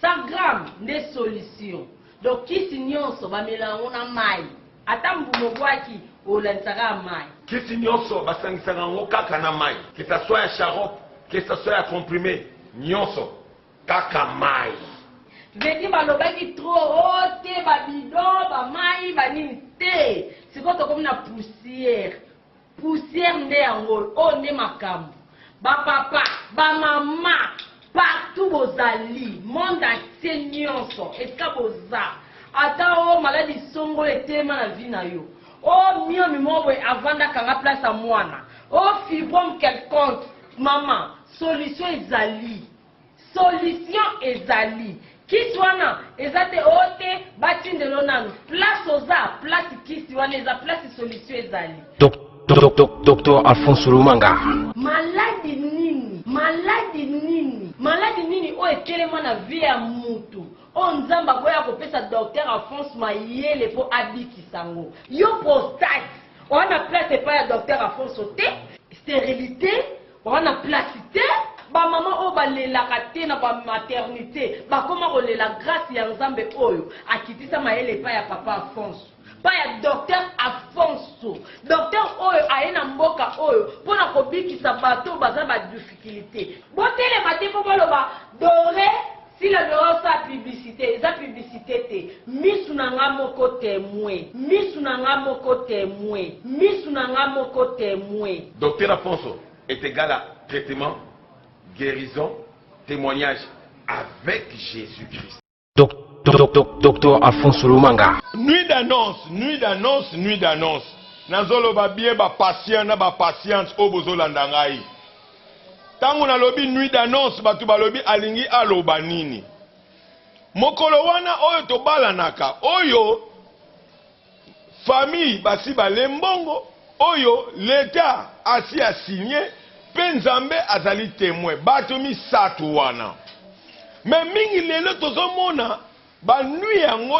Sagram nde solution donc kisi nionso bamela yango na mayi ata mbuma obwaki olandisa kaka mayi. Kisi nionso basangisaka yango kaka na mayi que ça soit ya sharop que ça soit ya comprime nionso kaka mayi. Vedi balobaki trop oh te ba bidon ba mayi ba nini te sikoyo tokomi na poussière. Poussière nde yango oyo. Oyo nde makambu ba papa ba mama partout bozali monde entier nionso esika boza ata oyo maladi songolo etelema na vie na yo oyo miomi moko boye avanda akanga place ya muana oyo fibrome quelconque maman solution ezali Solution ezali. Kisi wana eza te oh te batindelo nanu place oza place kisi wana eza place solution ezali. Docteur Alphonse Lumanga. Maladi nini? Maladi nini? Maladi nini oyo etelema na vie ya mutu? Oyo Nzambe aboya kopesa Docteur Alphonse mayele po abikisa ngo. Yo prostate oza na place epai ya Docteur Alphonse te? Sterilite Oza na place te. Ba maman oyo balelaka te na ba maternite bakoma kolela grace ya nzambe oyo akitisa mayele epai ya papa Afonso epai ya docteur Afonso docteur oyo aye na mboka oyo mpo na kobikisa bato oyo baza ba difficulite botelema te mpo boloba dore Sila doit osala publicite eza publicite te misu na nga moko temoin misu na nga moko temoin misu na nga moko temoin. Docteur Afonso est egal à traitement, guerison, temoignage avec Jesus Christ. Docteur Afonso Lumanga. Nuit d'annonce, nuit d'annonce, nuit d'annonce. Nazoloba bien ba patients na ba patientes oyo bozolanda ngai. Tango nalobi nuit d'annonce bato balobi alingi aloba nini? Mokolo wana oyo tobalanaka, oyo famille basi balee mbongo, oyo l'etat asi a signer mpe Nzambe azali temoin, bato misato wana. Mais mingi lelo tozomona. Ba nuit yango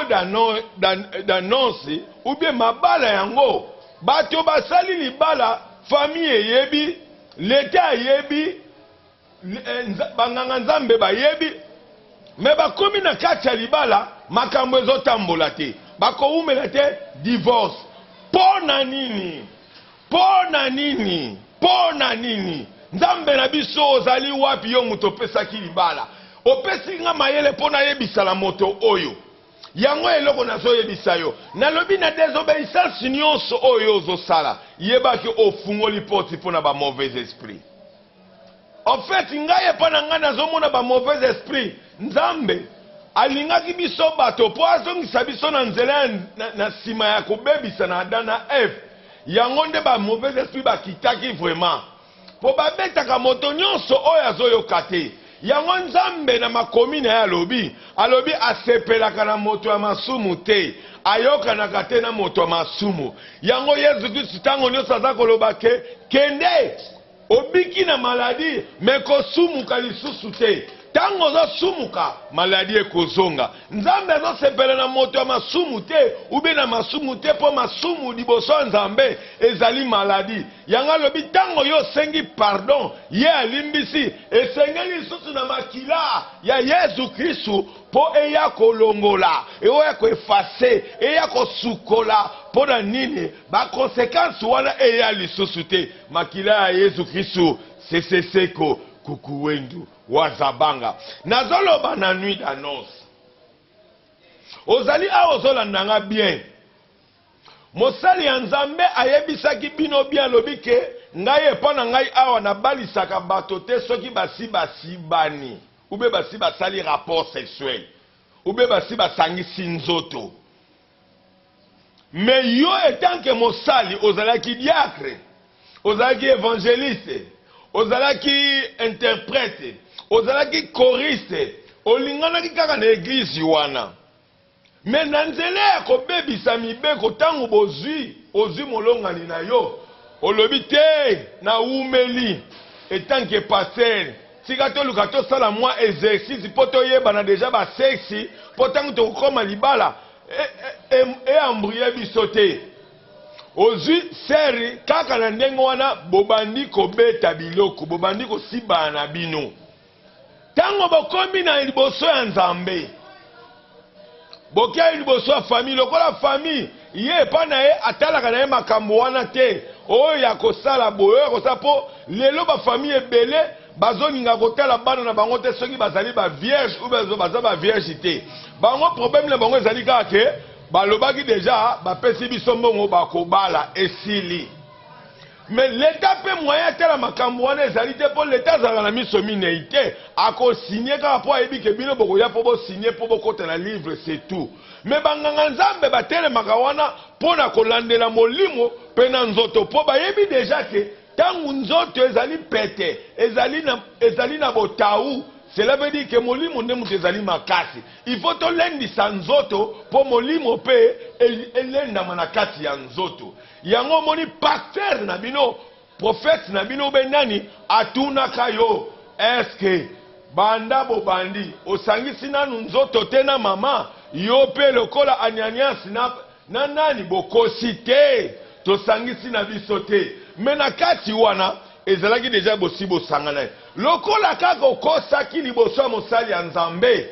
d'annonce ou bien mabala yango bato basali libala famille eyebi l'etat ayebi eh, ba nganga nzambe bayebi mais bakomi na kati ya libala makambo ezotambola te bakowumela te divorce mpo na nini Mpo na nini? Mpo na nini? Nzambe na biso, ozali wapi, yo moto opesaki libala? Opesi nga mayele mpo nayebisa na moto oyo. Yango eloko nazoyebisa yo. Nalobi na desobeyisance nyonso oyo ozosala, yeba ke ofungoli porte mpo na ba mauvais esprits. En fait ngai epa na ngai nazomona ba mauvais esprit nzambe alingaki biso bato po azongisa biso na nzela na, na sima ya kobebisa na Adam na Eve yango nde ba mauvais esprit bakitaki vraiment po babetaka moto nyonso oyo azoyoka te yango nzambe na makomi na ye alobi alobi asepelaka na moto ya masumu te ayokanaka te na moto ya masumu yango Yesu Kristu ntango nyonso aza koloba ke kende Obiki na maladie mais kosumuka lisusu te. Tango ozo sumuka maladie ekozonga. Nzambe azo sepela na moto ya masumu te ou bien na masumu te po masumu liboso ya Nzambe ezali maladie. Yango alobi tango yo osengi pardon ye alimbisi esengeli lisusu na makila ya Yezu Kristu po eya kolongola, eoya ko effacer, eya kosukola. Pona nini ba consequences wana eya lisusu te. Makila ya Yesu Kristu sese seko kukuwendu wazabanga nazoloba na nuit d'annonce ozali awa ozolanda nga bien mosali ya nzambe ayebisaki bino bien alobi ke ngai epa na ngai awa nabalisaka bato te soki basi basibani ube basi basali rapport sexuel ube basi basangisi nzoto Mais yo etant que mosali ozalaki diacre, ozalaki evangeliste, ozalaki interprète, ozalaki choriste, olinganaki kaka na eglise wana. Mais na nzela ya kobebisa mibeko tango bozui ozui molongani na yo olobi te na wumeli etant que pasteur. Tika toluka tosala mwa exercice mpo toyebana dejà ba sexes mpo tango tokokoma libala e embrouiller biso te. Ozui serre kaka na ndenge wana bobandi kobeta biloko, bobandi kosibana na bino. Tango bokomi na liboso ya Nzambe. bokei liboso ya famille lokola famille ye epa na ye atalaka na ye makambo wana te oyo ya kosala boyo ya kosala mpo lelo bafamille ebele bazolinga kotala bana na bango te soki bazali bavierge ou baza bavierge te bango problème na bango ezali kaka ke balobaki deja bapesi biso mbongo bakobala esili Mais l'etat pe moyen atala makambu wana ezali te po l'etat azalaka na miso mineyi te ako signe kaka po ayebi ke bino bokoya po bo signe po bokota na livre c'est tout mais ba nganga nzambe batelemaka wana pona kolandela molimo pe na nzoto po bayebi dejà ke tangu nzoto ezali pete ezali na ezali na botawu cela veut dire ke molimo nde mutu ezali makasi il faut tolendisa nzoto po molimo pe elendama na kati ya nzoto Yango omoni pasteur na bino, prophète na bino be nani atunaka yo est ce que banda bobandi osangisi nanu nzoto te na maman? Yo pe lokola anianias na na nani bokosi te tosangisi na biso te mais na kati wana ezalaki dejà bosi bosangana lokola kaka okosaki liboso ya mosali ya nzambe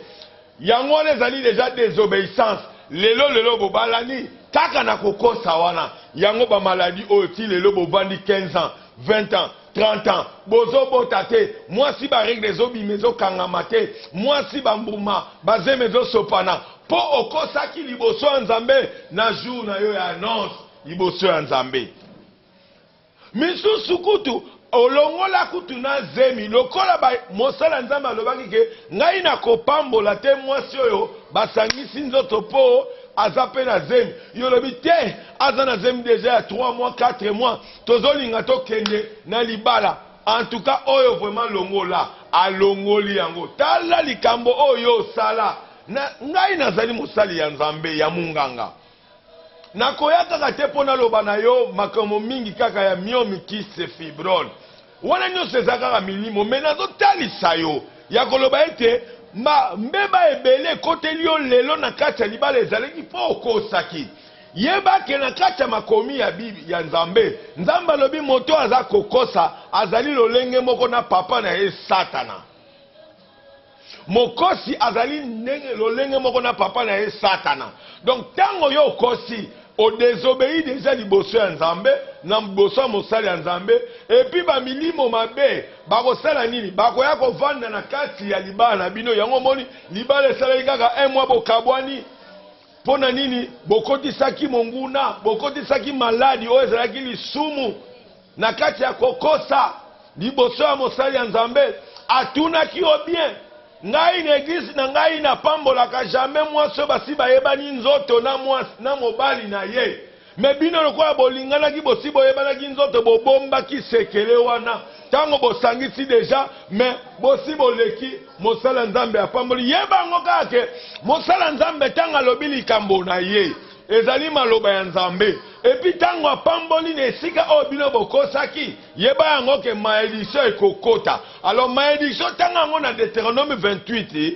Yango wana ezali dejà desobeissance lelo lelo bobalani kaka na kokosa wana yango ba maladie oyo ti lelo bovandi 15 ans 20 ans 30 ans bozo bota te mwasi ba regle ezo bima ezo kangama te mwasi ba mbuma ba zemi ezo sopana po okosaki liboso ya nzambe na jour na yo ya annonce liboso ya nzambe. Misusu kutu olongola kutu na zemi lokola ba mosali ya Nzambe alobaki ke ngai nakopambola te mwasi oyo basangisi nzoto po aza pe na zemi yolobi te aza na zemi deja ya trois mois quatre mois tozolinga tokende na libala en tout cas oyo vraiment longola alongoli yango tala likambo oyo osala na ngai nazali mosali ya Nzambe ya munganga Nakoya kaka te mpo naloba na yo makambo mingi kaka ya myomycise, fibrone. Wana nyonso eza kaka milimo. Mais nazotalisa yo ya koloba ete ba mbeba ebele ekoteli yo lelo na kati ya libala ezalaki mpo okosaki. Yeba ke na kati ya makomi ya Bib ya Nzambe, Nzambe alobi moto aza kokosa azali lolenge moko na papa na ye Satana. Mokosi azali ndenge lolenge moko na papa na ye Satana. Donc tango yo okosi, o desobeyi deja liboso ya Nzambe, na liboso ya mosali ya Nzambe, et puis ba milimo mabe bakosala nini? Bakoya kovanda na kati ya libala na bino, yango omoni libala esalaki kaka un mois bokabuani. Mpo na nini bokotisaki monguna? Bokotisaki maladi oyo ezalaki lisumu na kati ya kokosa liboso ya mosali ya Nzambe. Atunaki yo bien, ngai na eglise na ngai napambolaka jamais mwasi oyo basi bayebani nzoto na mwasi na mobali na ye. Mais bino lokola bolinganaki bosi boyebanaki nzoto bobombaki sekele wana tango bosangisi deja mais bosi boleki mosala nzambe apamboli yeba yango kaka ke mosala nzambe ntango alobi likambo na ye ezali maloba ya nzambe epi ntango apamboli na esika oyo bino bokosaki yeba yango ke maediction ekokota alors maediction tanga yango na deuteronome 28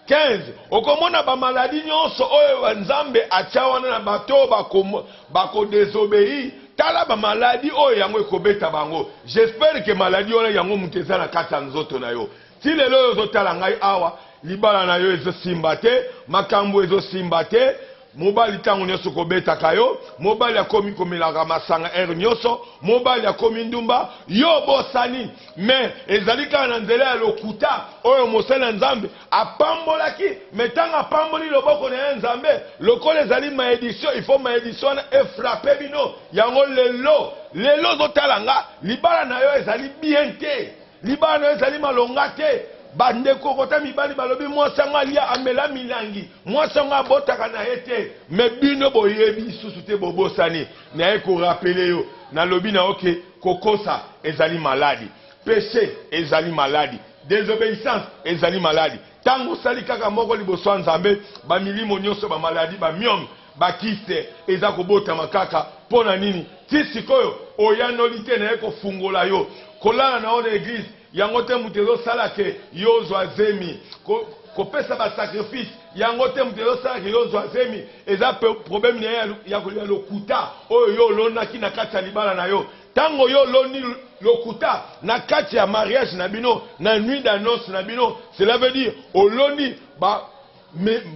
15, Okomona ba maladies nionso oyo Nzambe atia wana na bato oyo bako, bako desobeir, tala ba maladies oyo yango ekobeta bango, j'espère que maladie wana yango moto eza na kati ya nzoto na yo, ti lelo oyo ozo tala ngai awa, libala na yo ezo simba te, makambu ezo simba te, Mobali tango nioso kobetaka yo, mobali akomi komelaka masanga heure nioso, mobali akomi ndumba, yo obosani mais ezali kaka na nzela ya lokuta oyo mosali na Nzambe apambolaki mais tango apamboli loboko na ye Nzambe lokola ezali maedition il faut maedition wana e frapper bino yango lelo lelo ozo tala nga libala na yo ezali bien te. Libano ezali malonga te. Bandeko okota mibali balobi mwasi yango alia amela milangi, mwasi yango abotaka na ye te. Me bino boyebi lisusu te, bobosani. Naye korapele yo, nalobi na yo ke kokosa ezali maladi, peche ezali maladi, desobeissance ezali maladi. Tango osali kaka moko liboso ya Nzambe, bamilimo nionso, bamaladi, bamyome, Ba kiste eza kobotama kaka pona nini ti sikoyo oyanoli te naye kofungola yo kolala na yo na eglise yango te mutu ezo sala ke yo ozua zemi ko kopesa ba sacrifice yango te mutu ezo sala ke yo ozua zemi eza probleme naye ya ya lokuta oyo yo olonaki na kati ya libala na yo tango yo oloni lokuta na kati ya mariage na bino na nuit d'annonce na bino cela veut dire oloni ba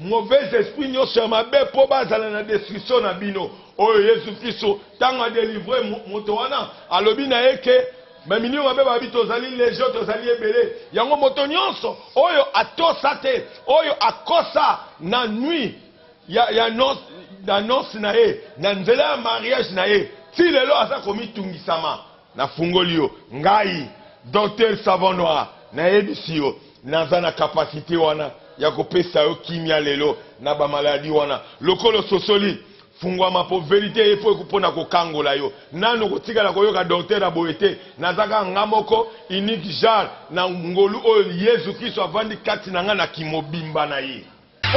mauvais esprit nyonso ya mabe mpo bazala na destruction na bino oyo yesu kristo ntango adelivre moto wana alobi na ye ke bamilio mabe babi tozali legio tozali ebele yango moto nyonso oyo atosa te oyo akosa na nui ya, ya nos, na nonse na ye na nzela ya mariage na ye ti lelo aza komitungisama Na fungoli yo ngayi Docteur savon noir na yebisi yo naza na capacite wana yako pesa yo kimia lelo na ba maladie wana lokola ososoli funguama po verite ye po pona ko kangola yo nanu oko tikala ko yoka Docteur ya boye te naza kaka nga moko unique jar na ngolu oyo yezu christo avandi kati na nga na ki mobimba na ye.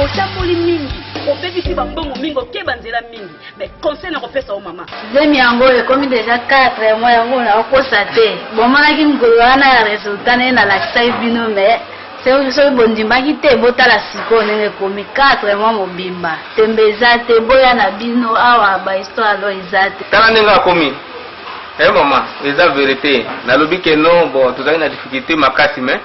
otamboli mingi obebisi bambongo mingi okeba nzela mingi mais conseil na kopesa yo mama zemi yango ekomi deja 4 mois yango nakokosa te bomonaki mokolo wana ya resultat naye nalakisaki bino mais soki bondimaki te botala sikoyo ndenge ekomi 4 mois mobimba tembe eza te boya na bino awa bahistoire alo eza te tala ndenge akomi e eh, mama eza verite nalobi ke no bo tozali na difficulté makasi mais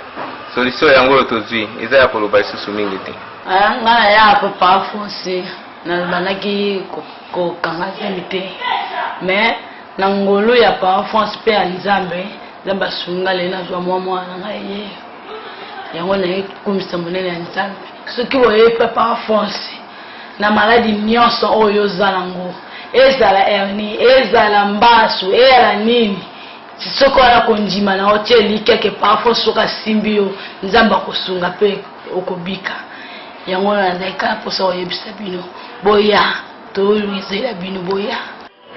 Solution yango oyo tozui eza ya koloba lisusu mingi te. Ah, nga na ya papa fosi nalobandaki kokanga zemi te mais na ngolu ya papa france mpe ya nzambe nzambe asunga lelo nazwa mwa mwana na ngai ye yango naye kokumisa monene ya nzambe soki boye papa france na maladi nyonso oyo ozala yango ezala hernie ezala mbasu eyala nini Soki oza na kondima na yo, tia elikya ke parfois soki asimbi yo, Nzambe akosunga mpe okobika. Yango wana nazali kaka mposa koyebisa bino, boya, tolizela bino, boya.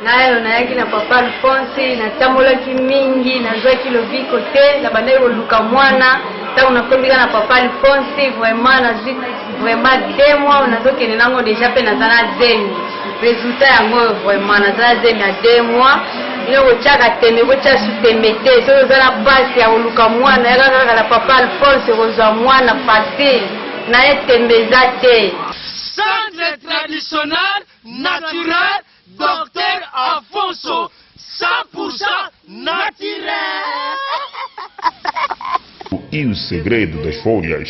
nayo nayaki na papa alphonse natambolaki mingi nazwaki lobiko te nabandaki koluka mwana ntango nakomika na papa alphonse vraiment nazwi vraiment de mois nazokende nango deja mpe naza na zemi Resultat yango oyo vraiment naza na zemi ya deux mois ino kotiaka tembe kotia su tembe te soki oza na mpasi ya koluka mwana yaka kaka na papa alphonse kozwa mwana facile na ye tembe eza te centre traditionnel naturel docteur alfonso 100% naturel. O il segredo das folhas.